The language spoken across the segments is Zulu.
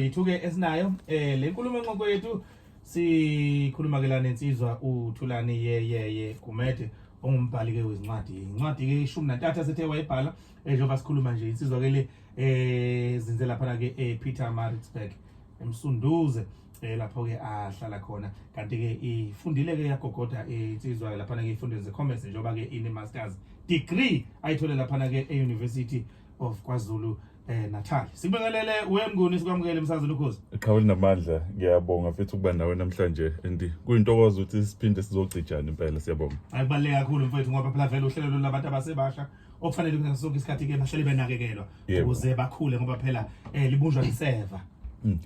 Yithuke esinayo eh le nkulumo nqoko yethu sikhuluma ke la nensizwa uThulani yeyeye Gumede ongumbhali ke wezincwadi incwadi ke ishumi nantathu asethe wayibhala eh, njengoba sikhuluma nje insizwa ke le eh zinze lapha ke ePeter eh, Maritzburg emsunduze eh lapho ke ahlala khona kanti ke ifundile ke yagogoda eh, insizwa ke lapha ke ifundile ze commerce njengoba ke ine masters degree ayithole lapha ke eUniversity of KwaZulu eh Natal sibingelele wemnguni sikwamukele emsazweni ukhozi iqhaweli namandla ngiyabonga futhi ukuba nawe namhlanje and kuyintokozo ukuthi siphinde sizocijana impela siyabonga akubaleke kakhulu mfethu ngoba phela vele uhlelo labantu abasebasha okufanele ukuthi sonke isikhathi ke bahlale benakekelwa ukuze bakhule ngoba phela eh libunjwa liseva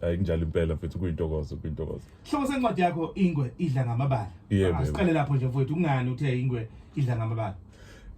hayi mm, kunjalo impela mfethu kuyintokozo kuyintokozo Hloko sencwadi yakho ingwe idla ngamabala. Yeah, Asiqale lapho nje mfowethu kungani uthe ingwe idla ngamabala?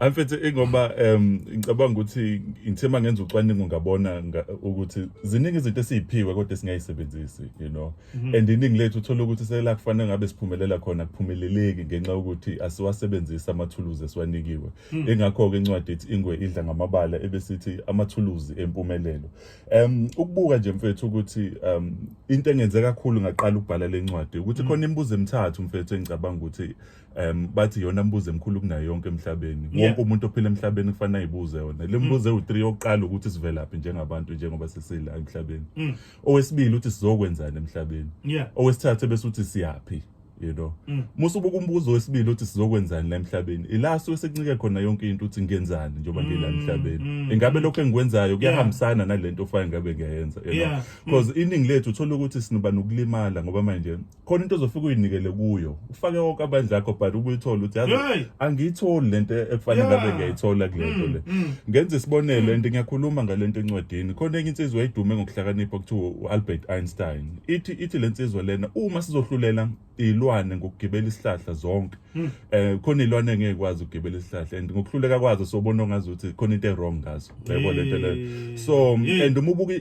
Amfethe ingoba em ngicabanga ukuthi ngithema ngenza ucwaningo ngabona nga- ukuthi ziningi izinto esiziphiwe kodwa esingayisebenzisi you know Mhm. and iningi lethu uthola ukuthi sela kufanele ngabe siphumelela khona kuphumeleleki ngenxa yokuthi asiwasebenzisi amathuluzi esiwanikiwe Mhm. ingakho ke incwadi ethi ingwe idla ngamabala ebesithi amathuluzi empumelelo Um ukubuka nje mfethu ukuthi um into engenze kakhulu ngaqala ukubhala lencwadi ukuthi mm. khona imibuzo emithathu mfethu engicabanga ukuthi um bathi yona imibuzo emkhulu kunayo yonke emhlabeni wonke umuntu ophila emhlabeni kufanele ayibuze yona le mibuzo mm. ewu-3 yokuqala ukuthi sivelaphi njengabantu njengoba sesila emhlabeni mm. owesibili ukuthi sizokwenzani emhlabeni owesithathu bese uthi siyaphi you know mm. musa ubuka umbuzo wesibili uthi sizokwenzani la emhlabeni ila suke sekuncike khona yonke into uthi ngenzani njengoba mm, ngila emhlabeni mm, ingabe mm. lokho engikwenzayo kuyahambisana yeah. nalento ofanele ngabe ngiyayenza you yeah. know because mm. iningi lethu uthola ukuthi sinoba nokulimala ngoba manje khona into ozofika uyinikele kuyo ufake wonke abandla akho but ubuyithola uthi yazi yeah. angiyitholi lento ekufanele yeah. ngabe ngiyayithola kulento mm, le mm. ngenza isibonelo mm. and ngiyakhuluma ngalento encwadini khona enye insizwa eyidume ngokuhlakanipha kuthiwa uAlbert Einstein ithi ithi lensizwa lena uma sizohlulela izilwane ngokugibela isihlahla zonke hmm. eh khona izilwane ngeke kwazi ukugibela isihlahla and ngokuhluleka kwazo sobona ongazi ukuthi khona into ewrong ngazo yebo lento le so and uma ubuka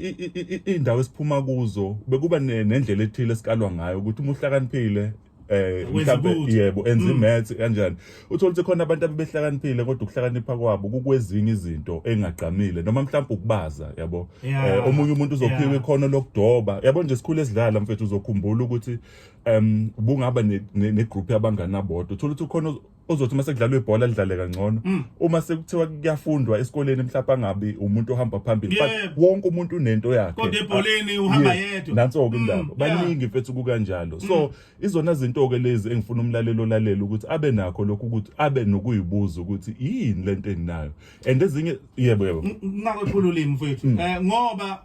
indawo esiphuma kuzo bekuba nendlela ethile esikalwa ngayo ukuthi uma uhlakaniphile eh mhlawumbe yebo enza mm. imaths kanjani uthola ukuthi khona abantu abebehlakaniphile kodwa ukuhlakanipha kwabo kukwezinye izinto engagqamile noma mhlawumbe ukubaza yabo eh, omunye umuntu uzophiwa ikhono lokudoba yabo nje sikhule sidlala mfethu uzokhumbula ukuthi um bungaba ne group yabangani abodwa uthola ukuthi khona ozothi uma sekudlalwa ibhola lidlale kangcono mm. uma sekuthiwa kuyafundwa esikoleni mhlawumbe angabi umuntu ohamba phambili but wonke umuntu unento yakhe kodwa ebholeni uhamba yedwa nanso ke mm, indaba baningi mfethu kukanjalo so mm. izona zinto ke lezi engifuna umlalelo lalela ukuthi abe nakho lokho ukuthi abe nokuyibuza ukuthi yini lento enginayo and ezinye yebo yebo ngakho khululimi mfethu eh, ngoba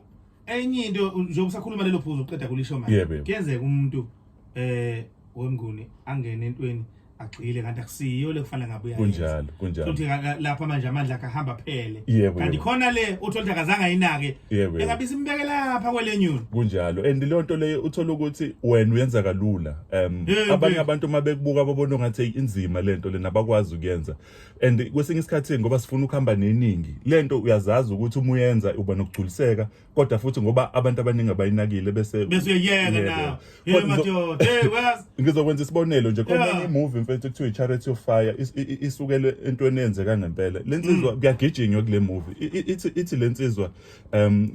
enye into njengoba usakhuluma lelo phuzu uqeda kulisho manje Yebo, yebo. kuyenzeka umuntu eh wemnguni angene entweni agxile kanti akusiyo le kufanele ngabe uyayenza kunjalo kunjalo futhi ka- ka- lapha manje amandla akhe ahamba phele Yebo, kanti yebo. khona le uthola ukuthi akazange ayinake Yebo, yebo. engabe isimbeke lapha kwelenyuni kunjalo and leyo nto leyo uthola ukuthi wena uyenza kalula um Yebo. abanye abantu uma bekubuka babona ngathi "Eyi, inzima le nto lena abakwazi ukuyenza and kwesinye isikhathi ngoba sifuna ukuhamba neningi lento uyazazi ukuthi uma uyenza uba nokugculiseka kodwa futhi ngoba abantu abaningi abayinakile bese bese uyeyeka na yebo madoda hey was ngizokwenza isibonelo nje khona enye movie mfethu kuthiwa charity of fire isukele entweni eyenzeka ngempela lensizwa mm. kuyagijinywa kule movie ithi ithi lensizwa um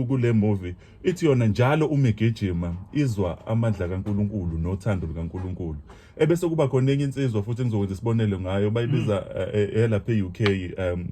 kule movie ithi yona njalo uma igijima izwa amandla kaNkuluNkulu nothando lukaNkuluNkulu ebese kuba khona enye insizwa futhi engizokwenza isibonelo ngayo bayibiza mm. eh, eh, eyalapha e-UK um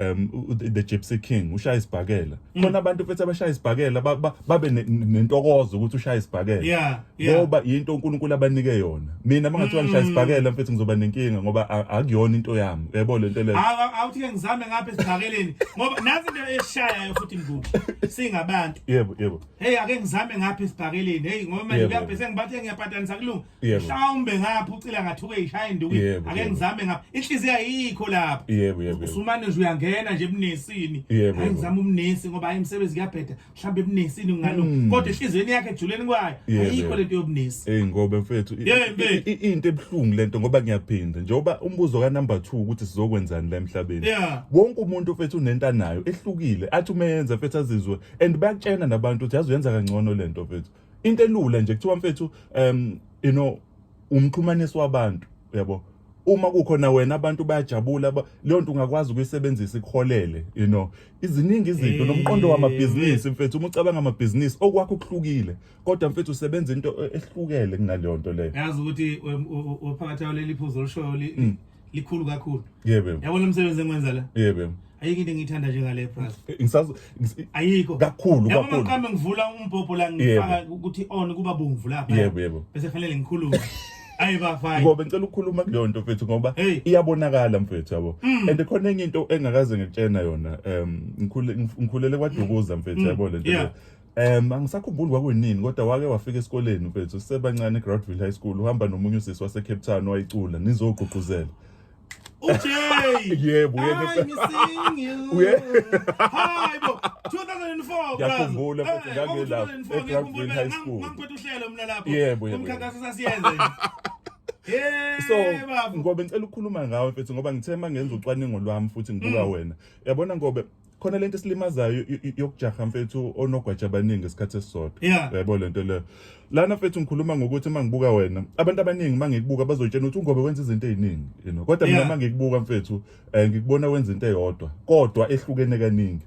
um the gypsy king ushaya isibhakela mm. khona abantu futhi abashaya isibhakela babe nentokozo ukuthi ushaya isibhakela ngoba yinto uNkulunkulu abanike yona mina mangathiwa ngishaya mm. isibhakela mfethu ngizoba nenkinga ngoba akuyona into yami yebo le nto leyo awuthi ke ngizame ngapha esibhakeleni ngoba nazi into eshayayo futhi mvubu singabantu yebo yebo hey ake ngizame ngapha esibhakeleni hey ngoba manje Yebo. kuyabhese ngibathe ngiyapatanisa kulunga Yebo. mhlawumbe ngapha ucila ngathuke ishaya induku Yebo, ake yebo. ngizame ngapha inhliziyo ayikho lapho yebo yebo yebo. usumane nje uyangena nje ebunesini Yebo, hayi yebo. ngizama ubunesi ngoba hayi imisebenzi kuyabheda mhlawumbe ebunesini ngingalunga Mm. kodwa enhliziyweni yakhe ejuleni kwayo Yebo, ayikho yebo. lento yobunesi Hey ngobe mfethu i- Yeah, mfethu. i- i- into ebuhlungu lento ngoba ngiyaphinda njengoba umbuzo ka number 2 ukuthi sizokwenzani la emhlabeni Yeah. wonke umuntu mfethu unento anayo ehlukile athi umenza mfethu azizwe and bayakutshena nabantu ukuthi yazi uyenza kangcono lento mfethu into elula nje kuthiwa mfethu um you know umxhumanisi wabantu uyabo uma kukhona wena abantu bayajabula leyo nto ungakwazi ukuyisebenzisa ikuholele you know iziningi izinto nomqondo eh, wamabhizinisi eh. mfethu uma ucabanga amabhizinisi okwakho kuhlukile kodwa mfethu usebenza into e-, ehlukele kunaleyo nto leyo yazi ukuthi uphakathi leli phuzo olushoyo mm. likhulu kakhulu yebo yabona umsebenzi engiwenza la yebo ayikho into engiyithanda njengale price eh, ngisazo ayikho kakhulu kakhulu yabo maqambe ngivula umbhobho la ngifaka ukuthi on kuba bomvu lapha yebo yebo bese kufanele ngikhulume ayi bafana ngoba ngicela ukukhuluma kuleyo nto mfethu ngoba iyabonakala mfethu yabo mm. and khona enye into engakaze ngitshena yona um ngikhulele kwadukuza mfethu mm. yabo lento Um angisakhumbuli kwakunini kodwa wake wafika esikoleni mfethu sisebancane eGroundville High School uhamba nomunye usisi waseCape Town wayicula nizogqugquzela uj yebo hayibo 2004 ngiyakhumbula futhi ngangelapho eGroundville High School ngangiphethe uhlelo mina lapho yebo yebo umkhankaso sasiyenze so ngobe ngicela ukukhuluma ngawe mfethu ngoba ngithe uma ngenza ucwaningo lwami futhi ngibuka mm. wena yabona ngobe khona lento esilimazayo yokujaha mfethu onogwaja abaningi isikhathi esisodwa yabo lento leyo lana mfethu ngikhuluma ngokuthi uma ngibuka wena abantu abaningi uma ngikubuka bazotshena ukuthi ungobe wenza izinto eziningi you know kodwa mina uma ngikubuka mfethu um ngikubona wenza into eyodwa kodwa ehlukene kaningi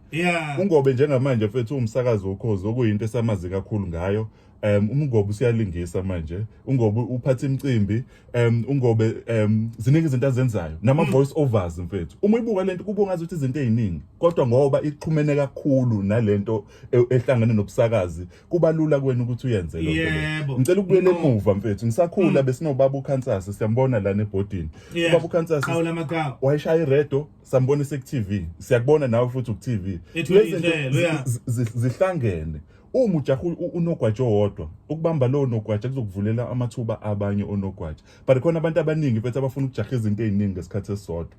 ungobe njengamanje mfethu uwumsakazi wokhozi okuyinto esamazi kakhulu ngayo um umngobe usiyalingisa manje ungobe uphatha imicimbi um ungobe um ziningi izinto azenzayo nama-voice mm. overs mfethu uma uyibuka le nto kuba ungazi ukuthi izinto ey'ningi kodwa ngoba ixhumene kakhulu nale nto e, ehlangene nobusakazi kuba lula kwena ukuthi uyenze lo nto ngicela ukubuyela emuva mfethu ngisakhula mm. besinobaba ukhansase siyambona lana ebhodini ubaba ukhansase wayeshaya iredo sambona ise-tv siyakubona nawe futhi ku-tv zihlangene uma ujaha unogwaja owodwa ukubamba lowo nogwaja kuzokuvulela amathuba abanye onogwaja but khona abantu abaningi mfethu abafuna ukujaha izinto eziningi ngesikhathi esisodwa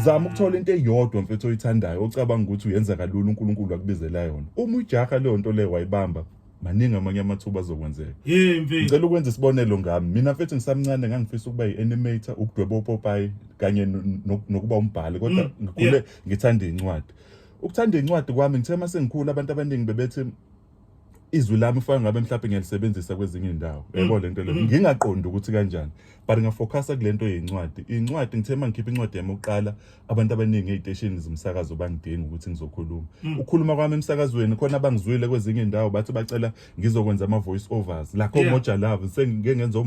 zama ukuthola into eyodwa mfethu oyithandayo ocabanga ukuthi uyenza kalula uNkulunkulu akubizela yona uma ujaha leyo nto leyo wayibamba maningi amanye amathuba azokwenzeka ngicela ukwenza isibonelo ngami mina mfethu ngisamncane ngangifisa ukuba yi-animator ukudweba opopayi kanye nokuba umbhali kodwa mm, ngikhule ngithanda iy'ncwadi Ukuthanda incwadi kwami ngithe uma sengikhulu abantu abaningi bebethi izwi lami ufaka ngabe mhlawumbe ngiyalisebenzisa kwezinye indawo mm. yabo lento le mm. ngingaqondi ukuthi kanjani but ngafocusa kulento yencwadi incwadi ngithe mangikhipha incwadi yami oqala abantu abaningi eziteshini zomsakazo bangidinga ukuthi ngizokhuluma mm. ukukhuluma kwami emsakazweni khona abangizwile kwezinye indawo bathi bacela ngizokwenza ama voice overs lakho moja love sengike ngenza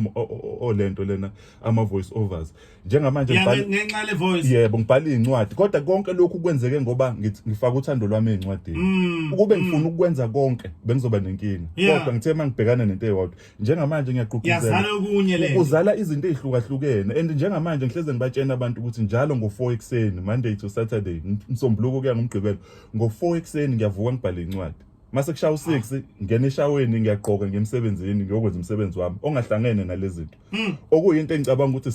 olento lena ama voice overs njengamanje ngenxa le voice yebo ngibhala izincwadi kodwa konke lokhu kwenzeke ngoba ngifaka uthando lwami ezincwadini mm, ukube mm. ngifuna ukwenza konke bengizoba nenkinga kodwa ngithe mangibhekana nento eyodwa njengamanje ngiyaqhuquzela ukuzala izinto ezihlukahlukene and njengamanje ngihleze ngibatshena abantu ukuthi njalo ngo4 ekseni monday to saturday msombuluko kuya ngomgqibelo ngo4 ekseni ngiyavuka ngibhale incwadi mase kushaya u6 ngena eshaweni ngiyagqoka ngemsebenzini ngiyokwenza umsebenzi wami ongahlangene nalezinto hmm. okuyinto engicabanga ukuthi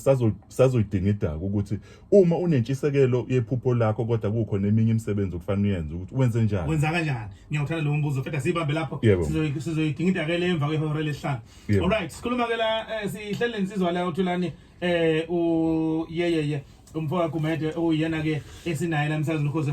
sazoyidinga idaka ukuthi uma unentshisekelo yephupho lakho kodwa kukho neminye imisebenzi okufanele uyenze ukuthi wenze njani wenza kanjani ngiyawuthanda lo mbuzo fetha sibambe lapho sizoyidinga idaka le emva kwehora lesihlanu all right sikhuluma ke la eh, sihlele insizwa la uthulani eh u yeyeye umfowabo Gumede oyena ke esinaye la msazini ukhoze